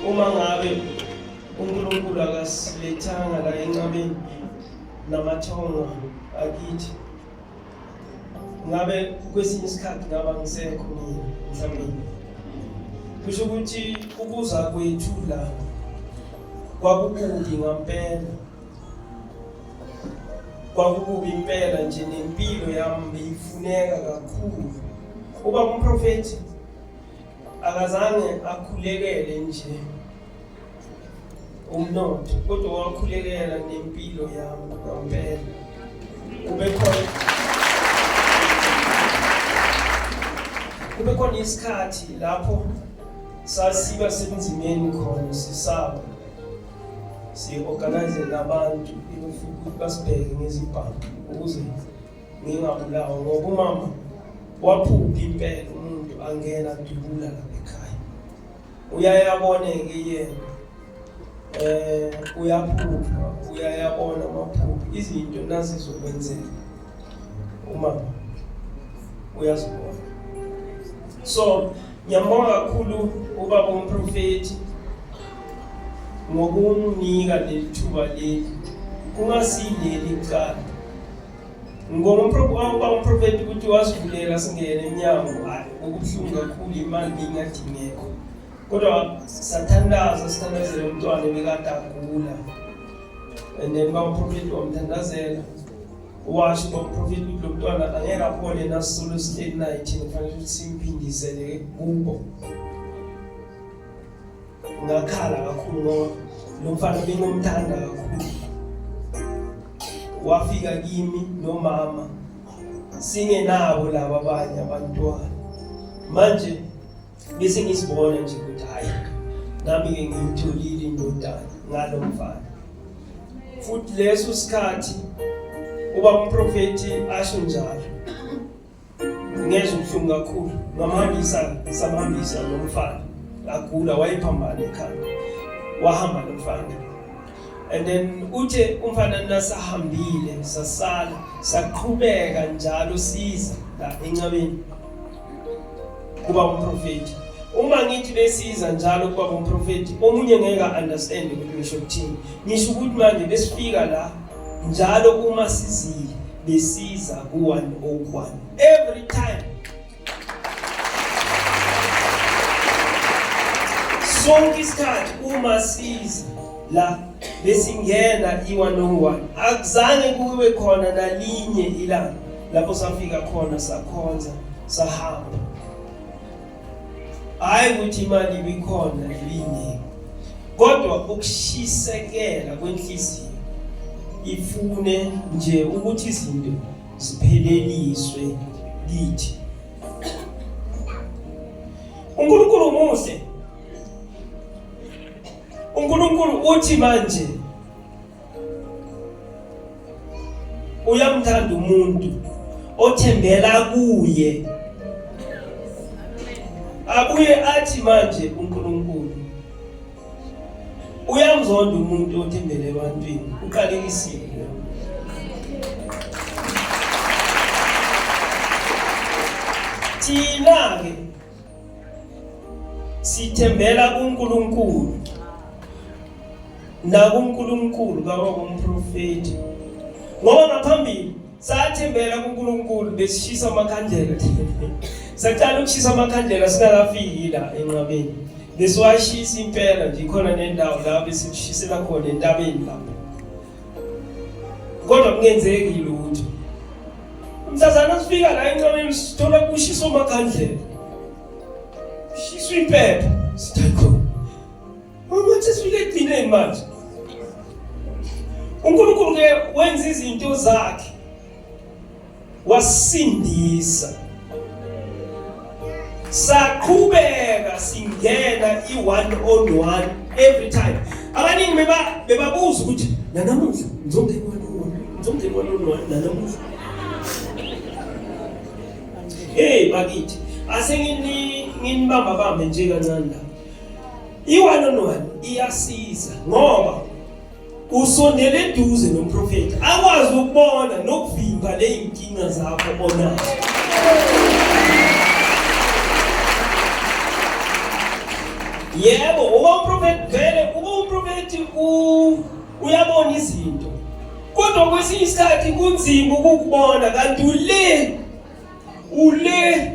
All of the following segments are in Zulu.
uma ngabe uNkulunkulu akasilethanga la enqabeni namathongo akithi ngabe kwesinye isikhathi ngaba ngisekho mina mhlawumbe kusho ukuthi ukuza kwethu la kwakukubi ngampela kwakukubi impela nje nempilo yami beyifuneka kakhulu uba umprofethi akazange akhulekele nje umnotho kodwa wakhulekela nempilo yami ngampela ubekhona kube khona isikhathi lapho sasiba sebunzimeni khona sisaba si-organize nabantu ukuthi basibheke ngezibhamu ukuze ngingabulawa ngoba umama waphupha impela umuntu angena dubula lapha ekhaya uyayaboneke yena eh uyaphupha uyayabona amaphupha izinto nazizokwenzeka umama uyazibona so ngiyambonga kakhulu ubaba umprofethi ngokumnika leli thuba leli kungasileli kuqala Ngibonga umprofethi ukuthi wasivulela singene emnyango okubuhlungu kakhulu imali beyingadingekho kodwa sathandaza sithandazele umntwana ebekade agula and then bamprofethi wamthandazela washo bamprofethi ukuthi lo mntwana angeke aphole nasisolo siteni naye thina kufanele ukuthi simphindisele kubo ngakhala kakhulu ngoba lo mfana bengomthanda kakhulu wafika kimi nomama singenabo laba abanye abantwana manje bese ngisibona nje ukuthi hayi nami-ke ngiyitholile indodana ngalo mfana futhi leso sikhathi uba umprofethi asho njalo ngezwa ubuhlungu kakhulu ngamhambisa samhambisa lo mfana agula wayephambana ekhaya wahamba lo mfana and then uthe umfana nasahambile sasala saqhubeka njalo siza la encabeni kuba umprofeti uma ngithi besiza njalo kuba umprofeti omunye ngeke understand ukuthi ngisho ukuthini ngisho ukuthi manje besifika la njalo uma sizile besiza ku-101 every time sonke isikhathi uma siza la besingena i-101 akuzange kube khona nalinye ilanga lapho safika khona sakhonza sahamba hhayi ukuthi imali ibikhona ibiningi kodwa ukushisekela kwenhliziyo ifune nje ukuthi izinto zipheleliswe kithi uNkulunkulu muhle uNkulunkulu uthi manje uyamthanda umuntu othembela kuye abuye athi manje uNkulunkulu uyamzonda umuntu othembele ebantwini uqalekisile thina-ke sithembela kuNkulunkulu nakuNkulunkulu baba kumprofeti ngoba ngaphambili sathembela kuNkulunkulu besishisa amakhandlela saqala ukushisa amakhandlela singakafiki la enqabeni besiwashisa impela nje khona nendawo la besimshisela khona entabeni lapho kodwa kungenzeki lutho msazana sifika la enqameni sithola kushiso makhandlela shiswa impepha sithakho mama sesifike edineni manje unkulunkulu ke wenza izinto zakhe wasindisa saqhubeka singena i-one on one every time abaningi bebabuza ukuthi nanamuhla ngizongena one on one ngizongena one on one nanamuhla hey bakithi ase nginibamba bambe nje kancane la i-one on one iyasiza ngoba usondele eduze nomprofethi akwazi ukubona nokuvimba ley'nkinga zakho onazo yebo uba umprofethi vele uba umprofethi uyabona izinto kodwa kwesinye isikhathi kunzima ukukubona kanti ule ule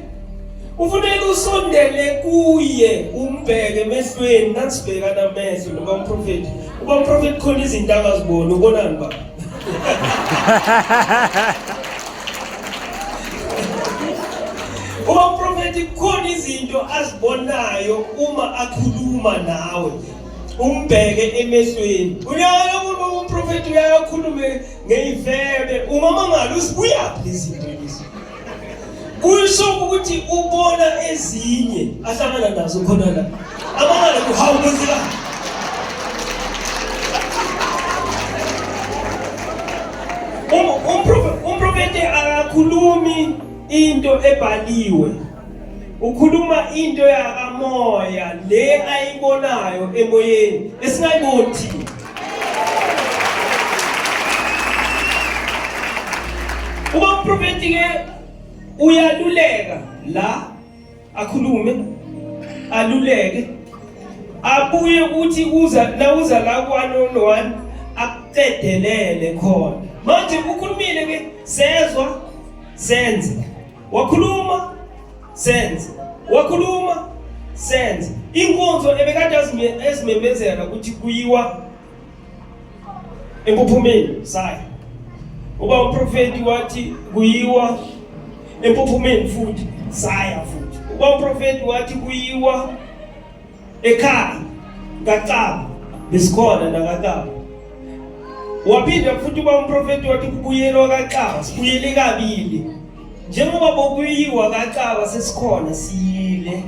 ufuneka usondele kuye umbheke emehlweni nasibhekana amehlo noba umprofethi uba umprofethi khona izinto akaziboni ubonani baba uba umprofethi kukhona izinto azibonayo uma akhuluma nawe umbheke emehlweni uyayo umuntu umprofethi uyayo akhulume ngeyifebe umama ngalo usibuyaphi izinto lezi kusho ukuthi ubona ezinye ahlangana nazo khona la amangala kuhawu kwenzeka umprofeti akakhulumi into ebhaliwe ukhuluma into yakamoya le ayibonayo emoyeni esingayiboni thina Uma umprofeti ke uyaluleka la akhulume aluleke abuye ukuthi uza nawuza la kwanono wani akucedelele khona manje ukhulumile ke sezwa senze wakhuluma senze wakhuluma senze inkonzo ebekade ezimemezela ukuthi kuyiwa empuphumeni sayo uba umprofeti wathi kuyiwa empuphumeni futhi saya futhi uba umprofeti wathi kuyiwa ekhaya kaCaba besikhona nakaCaba waphinde futhi uba umprofeti wathi kubuyelwa kaCaba sibuyele kabili njengoba bokuyiwa kaCaba sesikhona siyile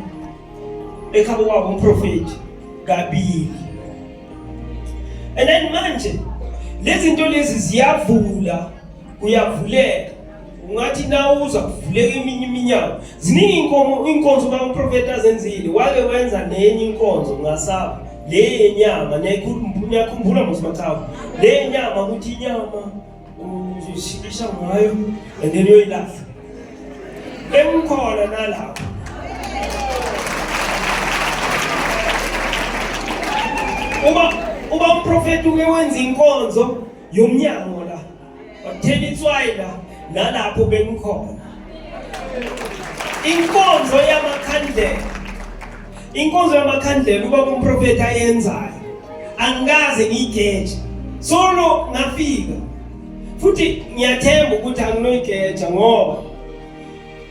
ekhabo kwabo umprofeti kabili and then manje lezi zinto lezi ziyavula kuyavuleka ungathi nawuza kuvuleka eminye iminyango ziningi inkomo inkonzo bamprofeti azenzile wake wenza nenye inkonzo ngasaba le yenyama niyakhumbula mosimathawu le yenyama ukuthi inyama uzoshikisha ngayo and then uyoyilahla emkhona nalapho uba uba umprofeti uke wenza inkonzo yomnyango Wakuthela itswayi la nalapho bengikhona. Inkonzo yamakhandlela. Inkonzo yamakhandlela uba kumprofeti ayenzayo. Angikaze ngigeje. Solo ngafika. Futhi ngiyathemba ukuthi anginoyigeja ngoba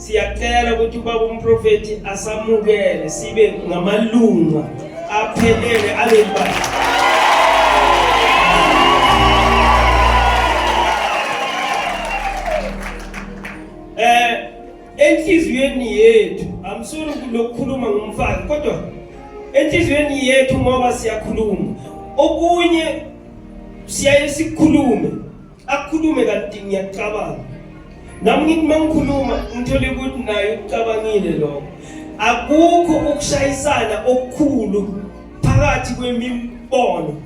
Siyacela ukuthi ubaba umprofethi asamukele sibe ngamalunga aphelele alembali. Eh enhliziyweni yethu amsuri lokukhuluma ngomfana kodwa enhliziyweni yethu ngoba siyakhuluma okunye siyaye sikhulume Akhulume kanti ngiyacabanga. Nami ngithi mangikhuluma ngithole ukuthi naye ucabangile lokho. Akukho ukushayisana okukhulu phakathi kwemibono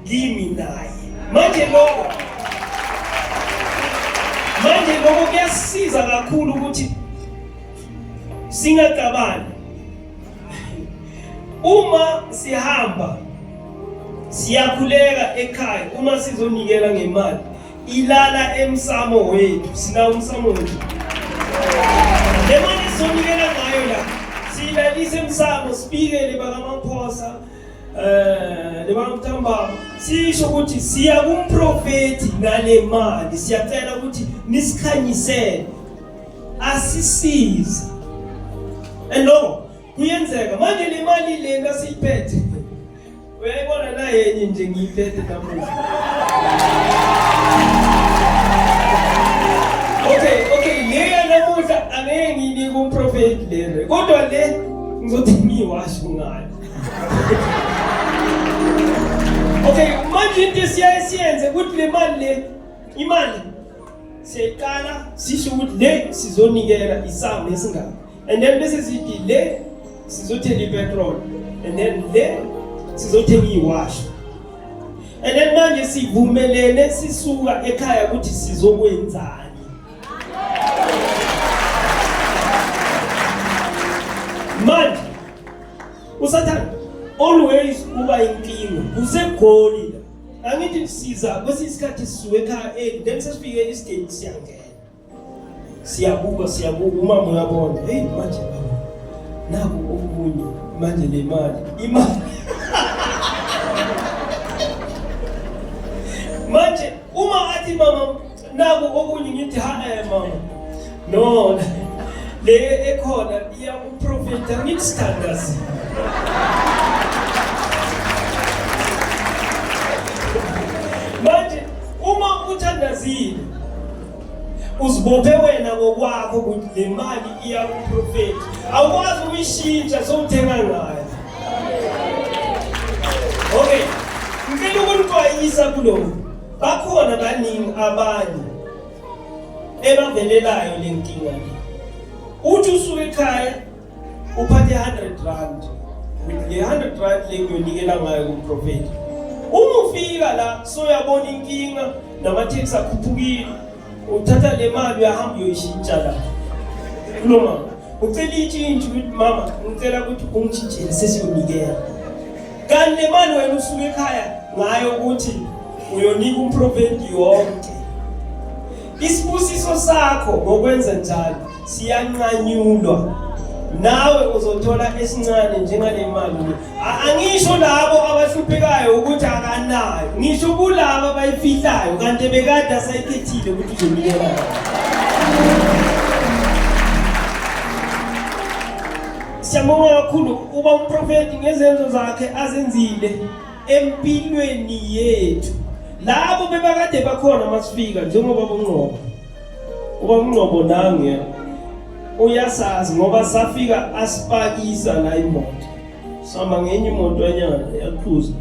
kimi naye. Manje lokho Manje lokho kuyasiza kakhulu ukuthi singacabani Uma sihamba siyakhuleka ekhaya uma sizonikela ngemali ilala emsamo wethu sina umsamo wethu le mali sizonikela ngayo la siyilalise emsamo sibikele bakamaphosa um eh, nebakamthambaba sisho ukuthi siya kumprofethi ngale mali siyacela ukuthi nisikhanyisele asisize and no kuyenzeka manje le mali lena siyiphethe uyayibona naye enye nje ngiyiphethe namuhla okay okay leya namuhla angeke ngiyinike umprofeti lena kodwa le ngizothi ngiyiwasho ngayo okay manje into esiyaye siyenze ukuthi le mali le imali Siyayiqala sisho ukuthi le sizonikela isamu esingaka and then bese sithi le sizothenga ipetrol and then le sizothenga iwash and then manje sivumelene sisuka ekhaya ukuthi sizokwenzani manje usathane always uba inkinga kusegoli angithi kusiza kwesinye isikhathi sisuke ekhaya early then sesifike isideni siyangena siyabuka siyabuka umama uyabona heyi manje baba naku okunye manje le mali imali manje uma athi mama naku okunye ngithi ha eh mama no le ekhona iya uprofeta ngithi standards manje uma uthandazile uzibophe wena ngokwakho ukuthi le mali iya kuprofeti awukwazi ukuyishintsha sowuthenga ngayo okay ngicela ukunixwayisa kulokhu Bakhona baningi abanye ebavelelayo le nkinga le. Uthi usuke ekhaya uphathe 100 rand. Le 100 rand le ngiyonikela ngayo kumprofeti. Uma ufika la soyabona inkinga namatheksi akhuphukile uthatha le mali uyahamba uyoyishintsha la kulo mama ucela intshintshi ukuthi mama ngicela ukuthi ungitshintshele sesiyonikela kanti le mali wena usuke ekhaya ngayo ukuthi uyonika umprofeti yonke isibusiso sakho ngokwenza njalo siyanqanyulwa nawe uzothola esincane njengale mali angisho labo abahluphekayo ukuthi akanayo ngisho kulaba abayifihlayo kanti bekade asayikhethile ukuthi uzonikela siyabonga kakhulu uba umprofethi ngezenzo zakhe azenzile empilweni yethu labo bebakade bakhona masifika njengoba bongqobo Ubamngqobo nange uyasazi ngoba safika asipakisa la imoto sama ngenye imoto enyana yaqhuza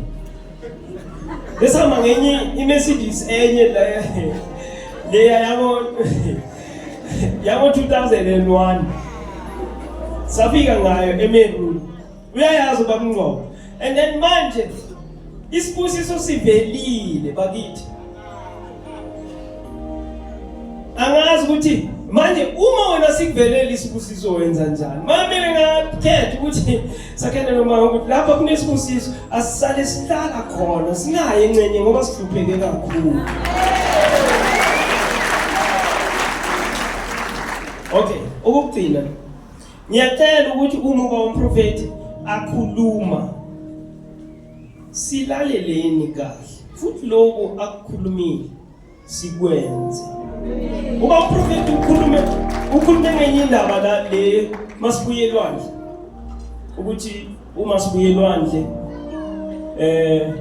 lesama ngenye iMercedes enye la leya yabo yabo 2001 safika ngayo eMeru uyayazi ubamngcobo and then manje isibusiso sivelile bakithi angazi ukuthi manje uma wena sikuvelela isibusiso wenza njani mamele ngakhetha ukuthi sakhele noma ukuthi lapha kunesibusiso asisale sihlala khona sinaye encenye ngoba sihlupheke kakhulu okay okugcina Ngiyacela ukuthi uma uba umprofethi akhuluma silaleleni kahle futhi lokho akukhulumile sikwenze. Uba umprofethi ukhulume ukhulume ngenye indaba la le masibuye elwandle ukuthi uma sibuye elwandle eh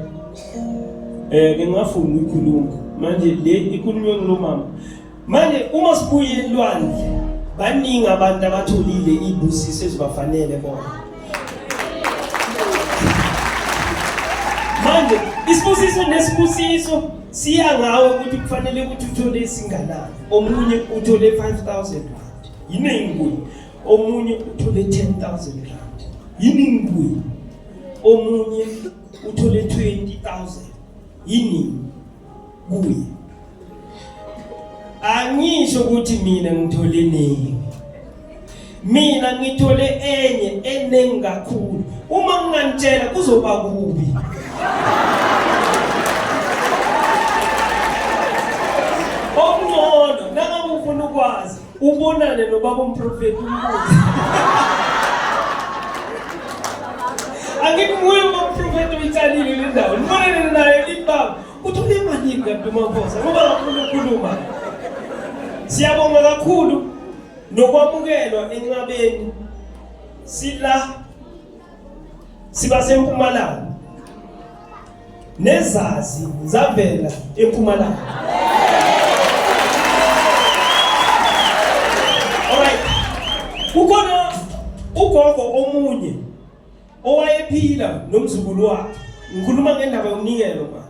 eh ngingafuni ukukhuluma manje le ikhulunywe ngilomama manje uma sibuye elwandle baningi abantu abatholile ibusiso ezibafanele bona manje isibusiso nesibusiso siya ngawe ukuthi kufanele ukuthi uthole esinganani omunye uthole 5000 rand yiningi kuye omunye uthole 10000 rand yiningi kuye omunye uthole 20000 yiningi kuye angisho ukuthi mina ngithole nini mina ngithole enye eningi kakhulu uma nginganitshela kuzoba kubi okungcono nangabe ufuna ukwazi ubonane nobaba umprofethi umbuze angithi nguye umprofethi uyitsalile le ndawo nibonane naye libaba Uthole malini kanti uMavuza ngoba kakhulu ukhuluma. Siyabonga kakhulu nokwamukelwa enqabeni sila siba sempumalanga nezazi zavela empumalanga Alright. Kukhona ugogo omunye owayephila nomzukulu wakhe ngikhuluma ngendaba yomnikelo ma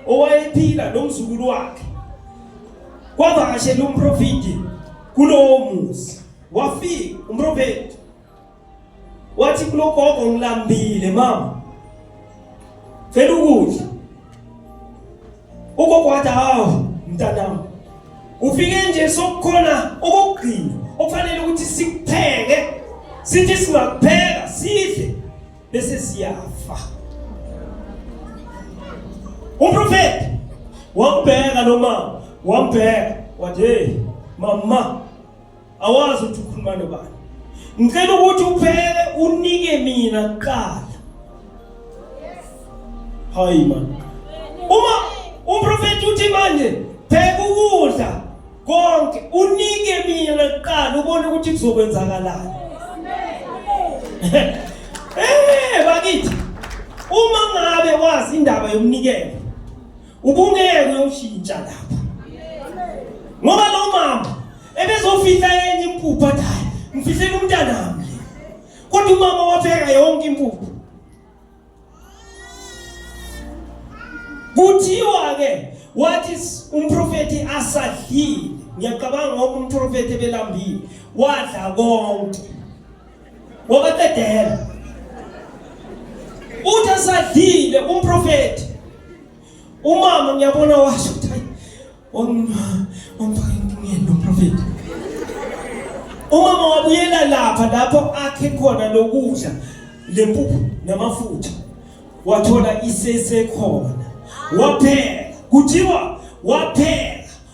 owayephila nomzukulu wakhe kwavakashela umprofidi kulowo muzi wafika umprofeti wathi kulogogo ngilambile mama cela ukudla Ugogo wathi hawu mntanami ufike nje sokukhona okugcina okufanele ukuthi sikupheke sithi singakupheka sidle bese siyafa umprofeti wambheka lo mama wambheka wathi hey mama awazi ukuthi ukhuluma nobani ngicela ukuthi uphele unike mina kuqala hayi man uma umprofeti uthi manje pheka ukudla konke unike mina kuqala ubone ukuthi kuzokwenzakalani eh bakithi uma ngabe wazi indaba yomnikelo Ubungeke uyoshintsha lapho. Ngoba lo mama ebezofihla enye impuphu athi hayi ngifihlela umntanami le. Kodwa umama wapheka yonke impuphu. Kuthiwa ke wathi umprofeti asadlile ngiyacabanga ngoba umprofeti ebelambile wadla konke wabaqedela uthi asadlile umprofeti umama ngiyabona washo ukuthi hayi omfakengiyena umprofeti umama wabuyela lapha lapho akhe khona lokudla lempuphu namafutha wathola isesekhona waphela kuthiwa waphela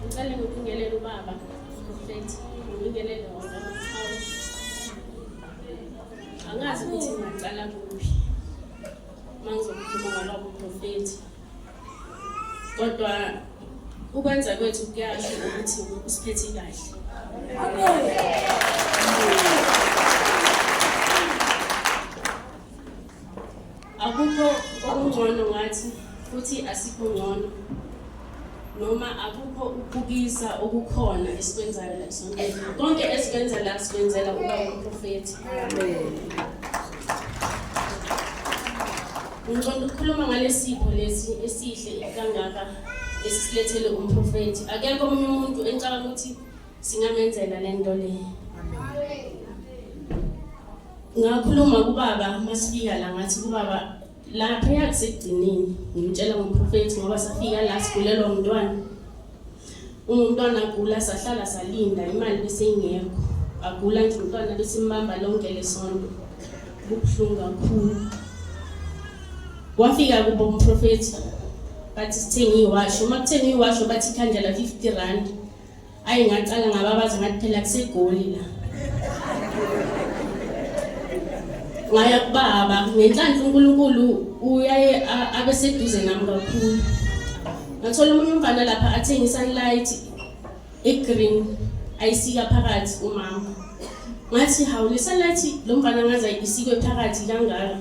Ngicela ngibingelele ubaba Prophet, ngibingelele wona Maqhawe. Angazi ukuthi ngaqala kuphi. Mangizokhuluma ngobaba Prophet. Kodwa ukwenza kwethu kuyasho ukuthi usiphethe kahle. Amen. Akukho okungcono ngathi futhi asikho ngcono noma akukho ukubukisa okukhona esikwenzayo la esontweni konke esikwenza la sikwenzela uba umprofethi ngiqonda ukukhuluma ngalesipho lesi esihle kangaka esisilethele umprofethi akekho omunye umuntu engicabanga ukuthi Singamenzela lento le. Ngakhuluma kubaba masifika la ngathi kubaba lapha yakusigcinini ngimtshela ngomprofethi ngoba safika la sigulelwa umntwana umntwana agula sahlala salinda imali beseyingekho agula nje umntwana besimbamba lonke lesonto kubuhlungu kakhulu wafika kubo umprofethi bathi sithenga iwasho uma kuthenga iwasho bathi ikhandlela 50 rand ayi ngacala ngababaza ngathi phela kusegoli la ngaya kubaba ngenhlanhla unkulunkulu uyaye abe seduze nami kakhulu ngathola omunye umfana lapha athenge i-sunlight i-green ayisika phakathi umama ngathi hawu le-sunlight lo mfana ngaze isikwe phakathi kangaka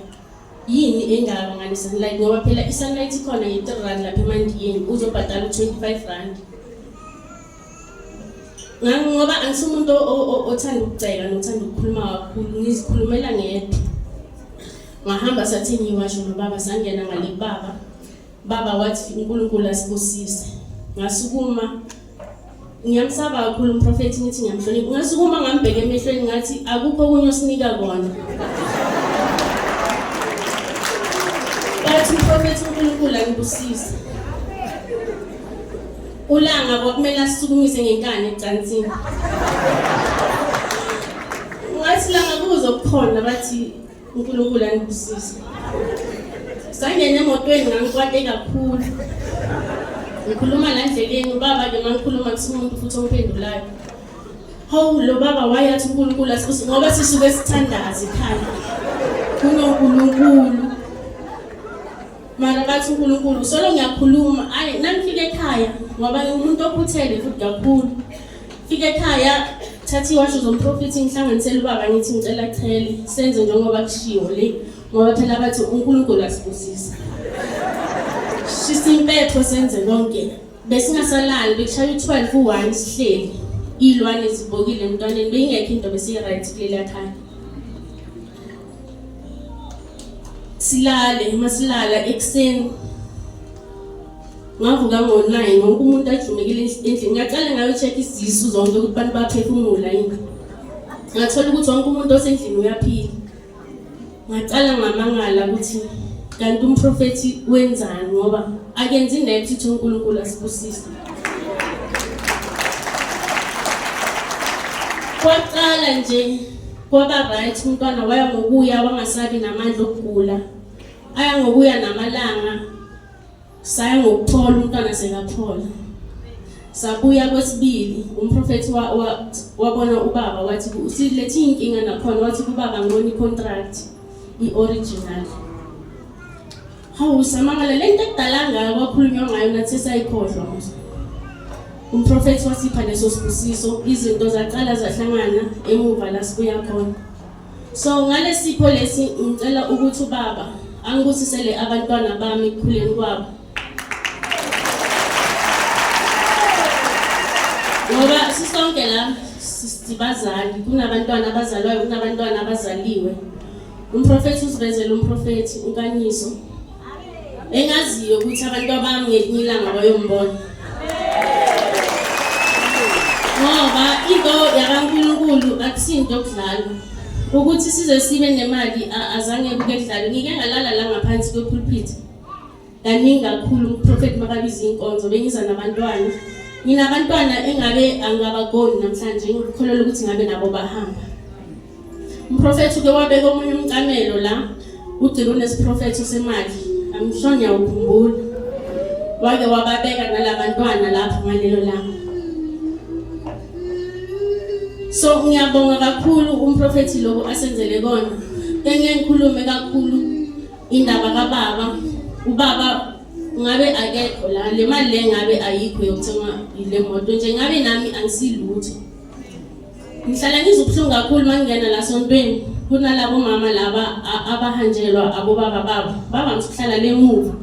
yini engakanganani sunlight ngoba phela i-sunlight ikhona nge-three rand lapha emandiyeni uzobhadala u-twenty-five rand ngoba angise umuntu othanda ukucela nothanda ukukhuluma kakhulu ngizikhulumela ngedwa ngahamba sathi ngiwasho nobaba sangena ngale kubaba Baba wathi uNkulunkulu asibusise. Ngasukuma ngiyamsaba kakhulu umprofethi ngithi ngiyamhlonipha. Ngasukuma ngambheka emehlweni ngathi akukho okunye osinika kona. Bathi umprofethi uNkulunkulu angibusise. Ulanga kwakumele asisukumise ngenkani ecansini. Ngathi langa kuzokukhona bathi unkulunkulu anibusise sangena emotweni ngangikwate kakhulu ngikhuluma la ndleleni ubaba ke mangikhuluma kusumuntu futhi omphendulayo hawu lo baba wayathi unkulunkulu asibuse ngoba sisuke sithandazi khaya kunonkulunkulu mara bathi unkulunkulu solo ngiyakhuluma ayi nangifika ekhaya ngoba umuntu okhuthele futhi kakhulu fika ekhaya thatha iwasho zomprofethi ngihlanganisele ubaba ngithi ngicela chele senze njengoba kushiwo le ngoba phela bathi unkulunkulu asibusisa shisa impepho senze konke besingasalali bekushaya u-12 u-1 sihleli iy'lwane zibhokile emntwaneni beyingekho into besiyi-right kuleliya khaya silale uma silala ekuseni ngavuka ngo-nine wonke umuntu ajumekile endlini ngaqale ngayocheck isisu zonke ukuthi bantu baphefumula yini ngathola ukuthi wonke umuntu osendlini uyaphila ngaqala ngamangala ukuthi kanti umprofethi wenzani ngoba akenzi naye ukuthi uNkulunkulu asibusise kwaqala nje kwaba right umntwana waya ngokuya wangasabi namandla okugula aya ngokuya namalanga saya ngokuthola umntwana sekaphola sabuya kwesibili umprofethi wabona ubaba wathi usilethe iy'nkinga nakhona wathi kubaba ngibona i-contract i-original hawu samangala le nto ekudala ngayo kwakhulunywa ngayo nathi sayikhohlwa manje umprofethi wasipha leso sibusiso izinto zaqala zahlangana emuva la sibuya khona So ngalesipho lesi ngicela ukuthi ubaba angibusisele abantwana bami ekukhuleni kwabo. Ngoba sisonke la sibazali kunabantwana abazalwayo kunabantwana abazaliwe. Umprofethi usivezela umprofethi ukanyiso. engaziyo ukuthi abantu abami ngelinye ilanga bayombona ngoba into yakankulunkulu akusinto okudlalwa ukuthi size sibe nemali azange kuke kudlalwe ngike ngalala la ngaphansi kwepulpit kaningi kakhulu uprofet makabiza iy'nkonzo bengiza nabantwana nginabantwana engabe angabagoni namhlanje ngikholelwa ukuthi ngabe nabo bahamba Umprofethi uke wabeka omunye umcamelo la ugcina unesiprofetho semali angisho ngiyawukhumbula wake wababeka nalabantwana lapho ngalelo langa so ngiyabonga kakhulu umprofethi lokho asenzele kona bengeke ngikhulume kakhulu indaba kababa ubaba ngabe akekho la le mali le ngabe ayikho yokuthenga le moto nje ngabe nami angisilutho Ngihlala ngizwa ubuhlungu kakhulu uma ngingena la sontweni kunalabo mama laba abahanjelwa abobaba babo bavamise ukuhlala le muva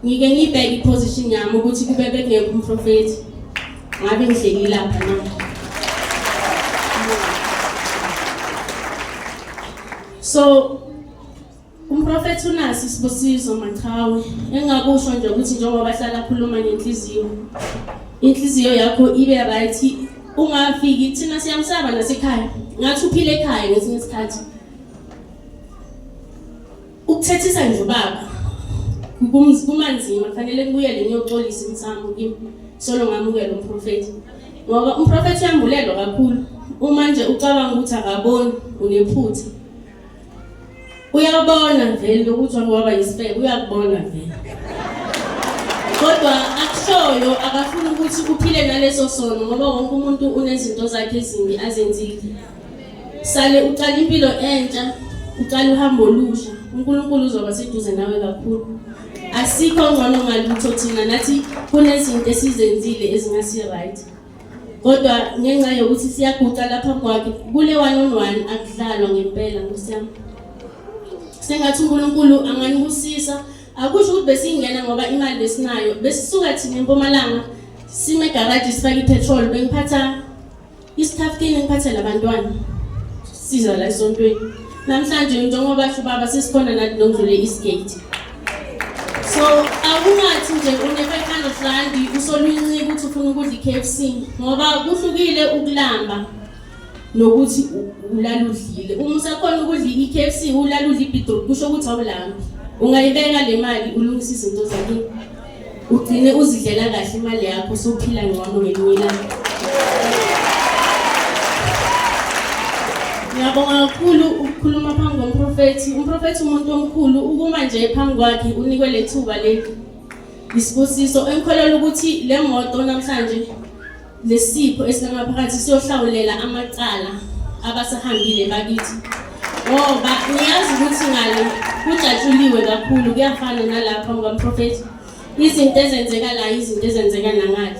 ngike ngibheke iposition yami ukuthi kube bekungekho umprofethi ngabe ngihleki lapha na so Umprofethi uNasi Sibusiso Machawe engakusho nje ukuthi njengoba hlala khuluma ngenhliziyo inhliziyo yakho ibe right ungafiki thina siyamsaba nasekhaya ngathi uphile ekhaya ngesinye isikhathi ukuthethisa nje ubaba kumanzima kufanele kubuyele ngiyoxolisa imsamo kimi solo ngamukela umprofethi ngoba umprofethi uyambulelwa kakhulu uma nje ucabanga ukuthi akaboni unephutha uyabona vele lokuthi wake waba yisifebe uyakubona vele kodwa akushoyo akafuni ukuthi kuphile naleso sono ngoba wonke umuntu unezinto zakhe ezimbi azenzile sale uqala impilo entsha uqala uhambo olusha unkulunkulu uzoba seduze nawe kakhulu asikho ngcono ngalutho thina nathi kunezinto esizenzile ezingasi-right kodwa ngenxa yokuthi siyaguqa lapha kwakhe kule one on one akudlalwa ngempela nkosi yami sengathi unkulunkulu anganibusisa akusho ukuthi besingena ngoba imali besinayo besisuka thina empumalanga sime egaraji sifake ipetrol bengiphatha isithaftini ngiphathe labantwana Siza la esontweni namhlanje njengoba sho ubaba sesikhona nathi nokudlule eastgate so akungathi nje une-500 randi usolwincika ukuthi ufuna ukudla i-k f c ngoba kuhlukile ukulamba nokuthi ulala udlile uma usakhona ukudla i-k f c ulala udla ibidrop kusho ukuthi awulambi ungayibeka le mali ulungisa izinto zakini ugcine uzidlela kahle imali yakho usuphila ngcono ngelinye ilanga ngiyabonga kakhulu ukukhuluma phambi komprofethi umprofethi umuntu omkhulu ukuma nje phambi kwakhe unikwe lethuba leli isibusiso engikholelwa ukuthi le moto namhlanje Lesipho esinamaphakathi siyohlawulela amacala abasahambile bakithi ngoba uyazi ukuthi ngale kujatshuliwe kakhulu kuyafana nalapha ngokamprofethi izinto ezenzeka la izinto ezenzeka nangale